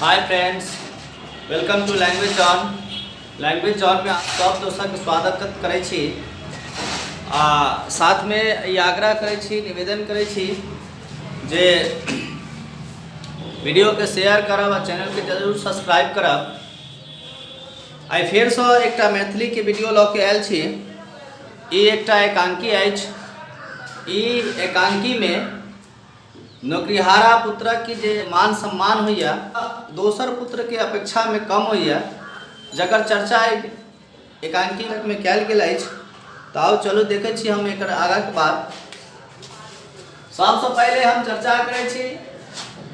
Hi friends welcome to language zone language zone में सब दोस्तक स्वागत करै छी आ साथ में ई आग्रह करै छी निवेदन करै छी जे वीडियो के शेयर करब आ चैनल के जरूर सब्सक्राइब करब आई फेर से एक मैथिली के वीडियो लऽ के आयल छी ई एकटा एकांकी अछि ई एकांकी में नौकरिहारा पुत्रक कि जे मान सम्मान होइए दोसर पुत्रके अपेक्षामे कम होइए जकर चर्चा एहि एकांकीमे कयल गेल अछि तऽ आउ चलू देखै छी हम एकर आगाँके बात सबसँ पहिले हम चर्चा करै छी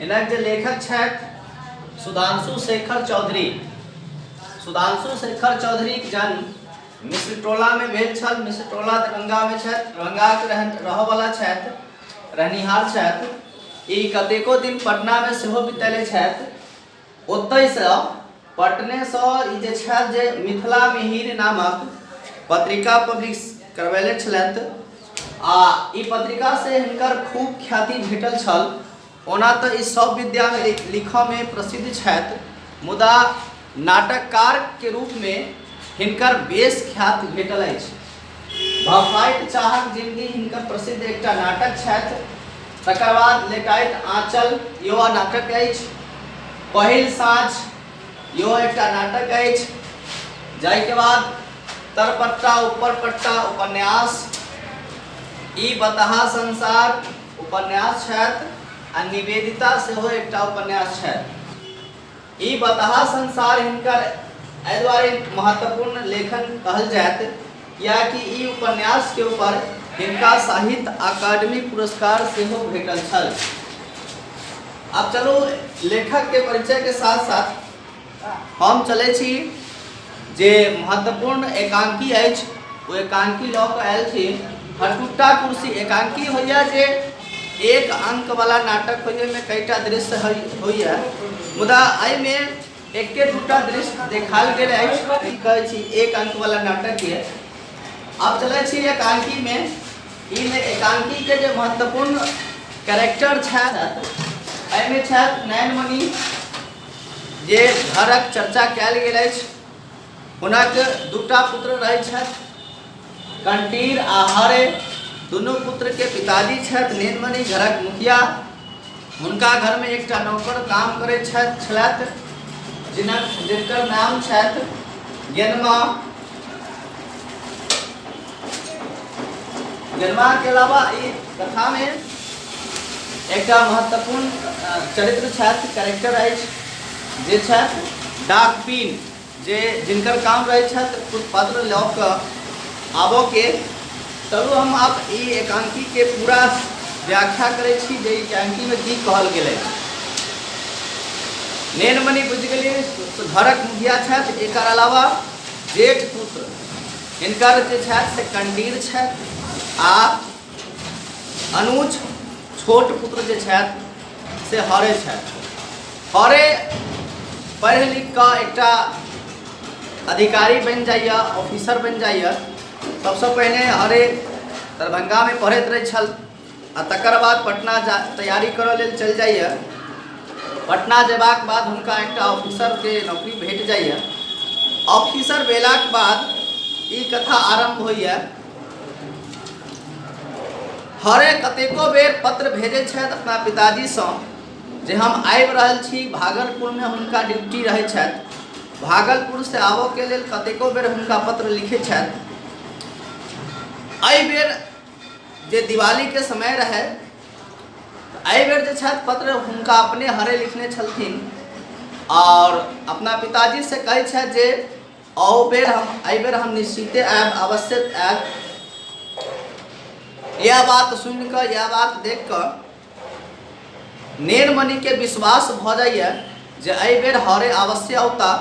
इनक जे लेखक छथि सुधांशु शेखर चौधरी सुधांशु शेखर चौधरीक जन्म मिश्रटोलामे भेल छल मिश्रटोला दरभंगामे छथि दरभंगाके रहन रहऽवला छथि रहनिहार छथि ई कतेको दिन पटनामे सेहो बितेले छथि ओतहिसँ पटनेसँ ई जे छथि जे मिथिला मिहिर नामक पत्रिका पब्लिश करबेले छलथि आ ई पत्रिकासँ हिनकर खूब ख्याति भेटल छल ओना तँ ई सभ विद्यामे लिखऽमे प्रसिद्ध छथि मुदा नाटककारक रूपमे हिनकर बेस ख्याति भेटल अछि। भफाइत चाहक जिनगी हिनकर प्रसिद्ध एकटा नाटक छथि। तकर बाद लेटाइत आँचल इहो नाटक अछि। पहिल साँझ इहो एकटा नाटक अछि। जाहिक बाद तरपट्टा-उपरपट्टा उपन्यास, ई बताहा संसार, उपन्यास छथि आ निवेदिता सेहो एकटा उपन्यास छथि ई बताहा संसार हिनकर एहि दुआरे महत्वपूर्ण लेखन कहल जायत कियाकि ई उपन्यास के ऊपर हिनका साहित्य अकादमी पुरस्कार सेहो भेटल छल अब चलू लेखक के परिचय के साथ साथ हम चलै छी जे महत्वपूर्ण एकांकी अछि ओ एकांकी लऽ कऽ आयल छी हटुट्टा कुर्सी एकांकी होइए जे एक अंकवला नाटक होइए ओहिमे कईटा दृश्य होइए मुदा एहिमे एके दूटा दृश्य देखाल गेल अछि की कहै छी एक अंकवला नाटक यए आब चलै छी एकांकीमे ईमे एकांकीके जे महत्वपूर्ण कैरेक्टर छथि एहिमे छथि नयनमणि जे घरक चर्चा कयल गेल अछि हुनक दूटा पुत्र रहैत छथि कंटीर आ हरे दुनू पुत्रके पिताजी छथि नीलमणि घरक मुखिया हुनका घरमे एकटा नौकर काम करैत छथि छलथि जिनक जिनकर नाम छथि गेनमा गनमा के अलावा ई कथा में एकटा महत्वपूर्ण अ, चरित्र छथि कैरेक्टर अछि जे छथि डाक पीन जे जिनकर काम रहै छथि कुछ पत्र लऽ कऽ आबऽ के चलू हम आब ई एकांकी के पूरा व्याख्या करै छी जे ई एकांकी में की कहल गेलै नेनमणि बुझि गेलियै घरक मुखिया छथि एकर अलावा जेठ पुत्र हिनकर जे छथि से कंडीर छथि आ अनुज छोट पुत्र जे छथि से हरे छथि हरे पढ़ि लिख कऽ एकटा अधिकारी बनि जाइए ऑफिसर बनि जाइए सबसँ पहिने हरे दरभंगामे पढ़ैत रहै छल आ तकर बाद पटना जा तैयारी करऽ लेल चलि जाइए पटना जेबाक बाद हुनका एकटा ऑफिसरके नौकरी भेट जाइए ऑफिसर भेलाक बाद ई कथा आरम्भ होइए हरे कतेको बेर पत्र भेजै छथि अपना पिताजीसँ जे हम आबि रहल छी भागलपुरमे हुनका ड्यूटी रहै छथि भागलपुरसँ आबऽके लेल कतेको बेर हुनका पत्र लिखै छथि एहि बेर जे दिवाली के समय रहे एहि बेर जे छथि पत्र हुनका अपने हरे लिखने छलथिन और अपना पिताजी से कहै छथि जे अहू बेर हम एहि बेर हम निश्चिते आयब अवश्य आयब यह बात सुन कऽ यह बात देख कऽ नेनमणि के विश्वास भ जाइए जे एहि बेर हरे अवश्य औता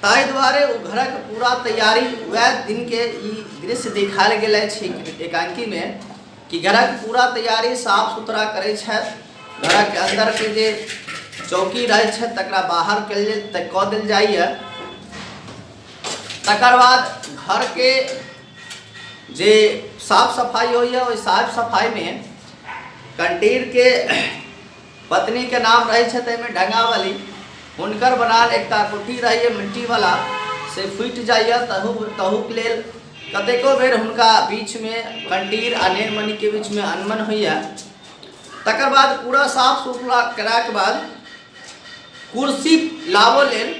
ताहि दुआरे ओ घरक पूरा तैयारी वएह दिन के ई दृश्य देखायल गेल अछि एकांकी मे कि घरक पूरा तैयारी साफ सुथरा करै छथि घरक अंदर के जे चौकी रहै छथि तकरा बाहर कल कऽ देल जाइए तकर बाद घर के जे साफ सफाई होइए ओहि साफ सफाई मे कंटीर के पत्नी के नाम रहे छे तेमे ढंगावली उनकर बनाल एकटा कुटी रहिए मिट्टी वाला से फूट जाइए तहु तहु के लेल कतेको बेर हुनका बीच में कंटीर आ नेनमणि के बीच में अनमन होइए तकर बाद पूरा साफ सुथरा करा के बाद कुर्सी लाबो लेल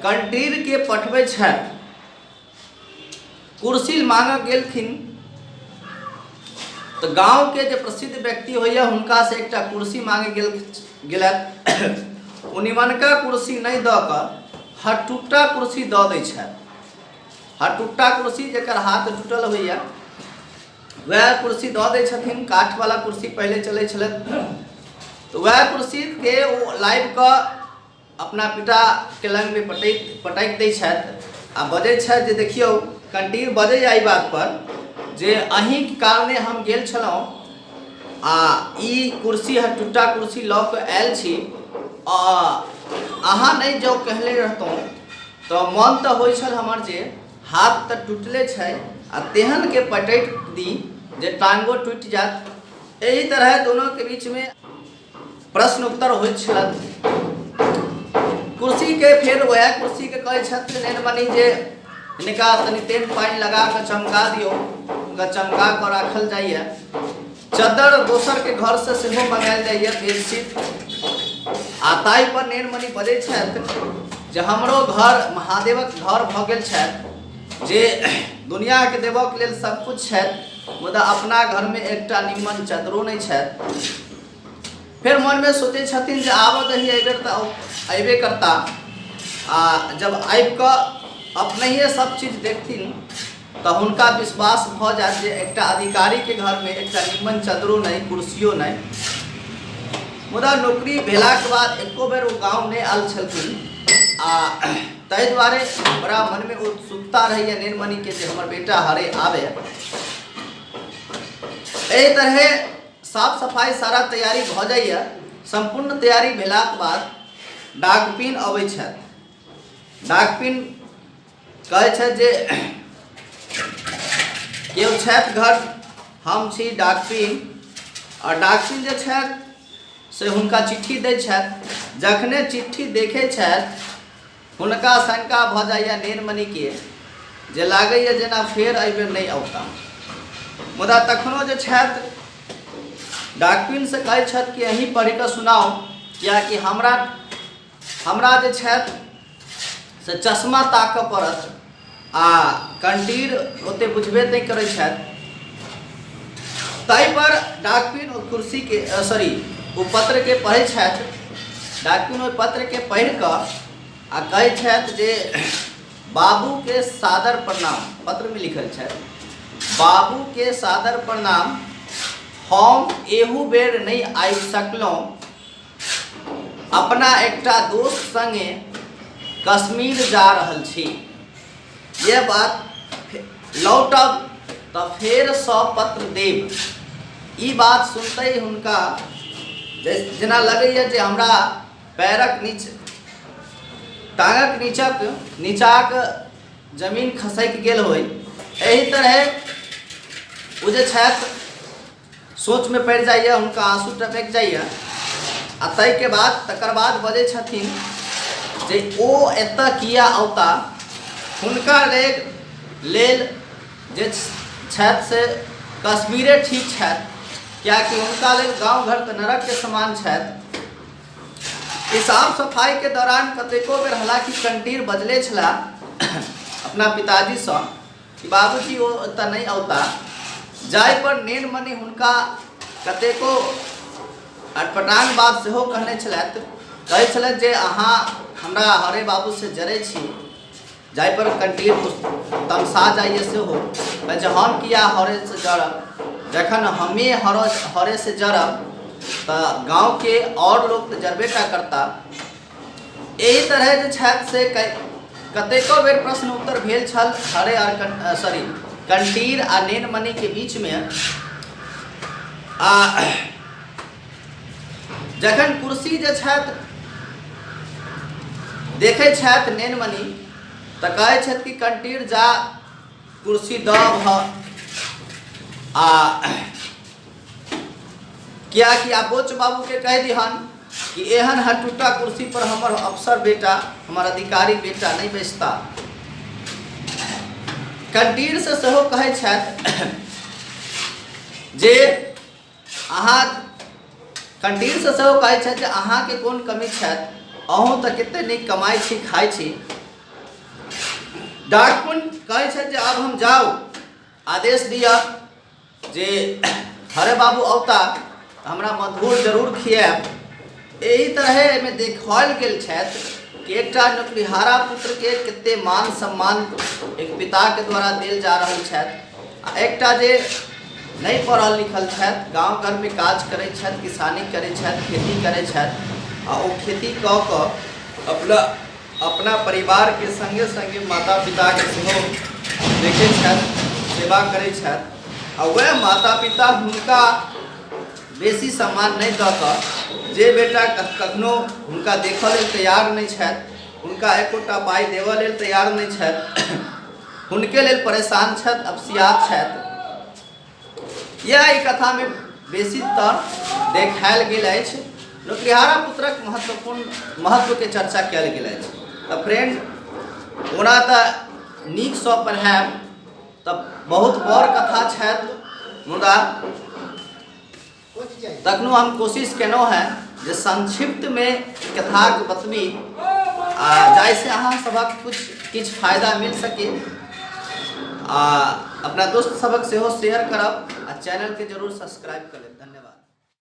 कंटीर के पठबे छथि कुर्सी मांगऽ गेलखिन तऽ गांव के जे प्रसिद्ध व्यक्ति होइए हुनका से एकटा कुर्सी मांगे गेल गेलथि ओ निमनका कुर्सी नहि दऽ कऽ हटुट्टा कुर्सी दऽ दै छथि हटुट्टा कुर्सी जकर हाथ टूटल होइए वएह कुर्सी दऽ दै छथिन काठवला कुर्सी पहिले चलै छलथि तऽ वएह कुर्सीके ओ लाबि कऽ अपना पिता के लग मे पटैत पटैक दै छथि आ बजै छथि जे देखियौ कंटीर बजै एहि बात पर जे अहीं के कारणे हम गेल छलहुँ आ ई कुर्सी हर टुट्टा कुर्सी लऽ कऽ आयल छी आ अहाँ नहि जँ कहले रहतहुँ तऽ मन तऽ होइ छल हमर जे हाथ तऽ टुटले छै आ तेहन के पटैक दी जे टांगो टुटि जायत एहि तरहे दुनू के बीच मे प्रश्न उत्तर होइ छथि कुर्सी के फेर वह कुर्सी के कहे छथि नेन बनी जे इनका तनी तेल पानी लगा के चमका दियो उनका चमका के राखल जाइए चदर दोसर के घर से सेहो मंगायल जाइए बेडशीट आ ताहि पर नेन मनी बजे छथि जे हमरो घर महादेवक घर भऽ गेल छथि जे दुनिया के देबऽ के लेल सब कुछ छथि मुदा अपना घर में एकटा निम्मन चदरो नहि छथि फेर मनमे सोचै छथिन जे आबऽ दही एहिबेर तऽ अयबे करता आ जब आबि कऽ अपनहिए सब चीज देखथिन तऽ हुनका विश्वास भऽ जायत जे एकटा अधिकारीके घरमे एकटा निमन चदरो नहि कुर्सियो नहि मुदा नौकरी भेलाके बाद एको बेर ओ गाँव नहि आयल छलखिन आ ताहि दुआरे बड़ा मनमे उत्सुकता रहैए निर्मणिके जे हमर बेटा हरे आबे एहि तरहे साफ सफाइ सारा तैयारी भऽ जाइए सम्पूर्ण तैयारी भेलाक बाद डाकपिन अबै छथि डाकपिन कहै छथि जे केओ छथि घर हम छी डाकपिन आ डाकपिन जे छथि से हुनका चिट्ठी दै छथि जखने चिट्ठी देखै छथि हुनका शंका भऽ जाइए नीलमणिके जे लागैए जेना फेर एहिबेर नहि अवता मुदा तखनो जे छथि डाकपिनसँ कहै छथि कि अहीँ पढ़ि कऽ सुनाउ किएकि हमरा हमरा जे छथि से चश्मा ताकय पड़त आ कंडीर ओते बुझबे नहीं करे तई पर डाकपिन और कुर्सी के सॉरी वो पत्र के पढ़े डाकपिन और पत्र के पढ़ कर आ कहे जे बाबू के सादर प्रणाम पत्र में लिखल है बाबू के सादर प्रणाम हम एहू बेर नहीं आबि सकलहुँ अपना एकटा दोस्त संगे कश्मीर जा रहल छी ये बात लौटब तऽ फेर सब पत्र देब ई बात सुनते हुनका जेना लगैए जे हमरा पैरक नीच टांगक नीचक नीचाक जमीन खसैक गेल होय एहि तरह ओ जे छथि सोचमे पड़ि जाइए हुनका आँसू टपकि जाइए आ ताहिके बाद तकर बाद बजै छथिन जे ओ एतऽ किया औता हुनका लेल लेल जे छथि से कश्मीरे ठीक छथि किएकि हुनका लेल गाँव घर तऽ नरकके समान छथि ई साफ सफाइके दौरान कतेको बेर हालाँकि कंटीर बजले छलाह अपना पिताजीसँ बाबूजी ओ एतऽ नहि औता जाय पर नेन मने हुनका कतेको अटपटांग बात सेहो कहने छलथि कहै छलथि जे अहाँ हमरा हरे बाबू से जरै छी जाय पर कंटीन तमसा जाइए सेहो कहै छै हम किया हरे से जरब जखन हमे हर हरे से जरब तऽ गाँवके आओर लोक तऽ जरबे टा करता एहि तरह जे छथि से कतेको बेर प्रश्न उत्तर भेल छल हरे आर सॉरी कंटीर आ नेनमणि के बीच में आ जखन कुर्सी जे छथि देखै छथि नेनमणि तऽ कहै छथि कि कंटीर जा कुर्सी दब ह आ क्या कि आप बोच बाबू के कह दिहन कि एहन हटूटा कुर्सी पर हमर अफसर बेटा हमर अधिकारी बेटा नहीं बैसता कंटीर से सेहो कहै छथि जे अहाँ कंटीर से सेहो कहै छथि जे अहाँके कोन कमी छथि अहूँ तऽ कते नीक कमाइ छी खाइ छी डाकपुन कहै छथि जे आब हम जाउ आदेश दिअ जे हरे बाबू अवता हमरा मधुर जरूर खियाब एहि तरह एहिमे देखाओल गेल छथि कि एकटा नौकरिहारा पुत्रके कते मान सम्मान एक पिताके द्वारा देल जा रहल छथि आ एकटा जे नहि पढ़ल लिखल छथि गाँव घरमे काज करै छथि किसानी करै छथि खेती करै छथि आ ओ खेती कऽ कऽ अपना अपना परिवार के संगे संगे माता पिता के सेहो देखे छथि सेवा करे छथि आ वह माता पिता हुनका बेसी सम्मान नहीं दऽ कऽ जे बेटा कखनो हुनका देख लेल तैयार नहीं छथि हुनका एकोटा पाई देव लेल तैयार नहीं छथि हुनके लेल परेशान छथि अपसियात छथि यह कथा में बेसीतर देखायल गेल अछि नौकरिहारा पुत्रक महत्वपूर्ण महत्व के चर्चा कयल गेल अछि तऽ फ्रेंड ओना तऽ नीकसँ पढ़ायब तऽ बहुत बड़ कथा छथि मुदा तखनो हम कोशिश केलहुँ हेँ जे संक्षिप्तमे कथाक बतबी आ जाहिसँ अहाँ सभक किछु किछु फायदा मिल सके आ अपना दोस्त सभक सेहो शेयर करब आ चैनलके जरूर सब्सक्राइब कर लेब धन्यवाद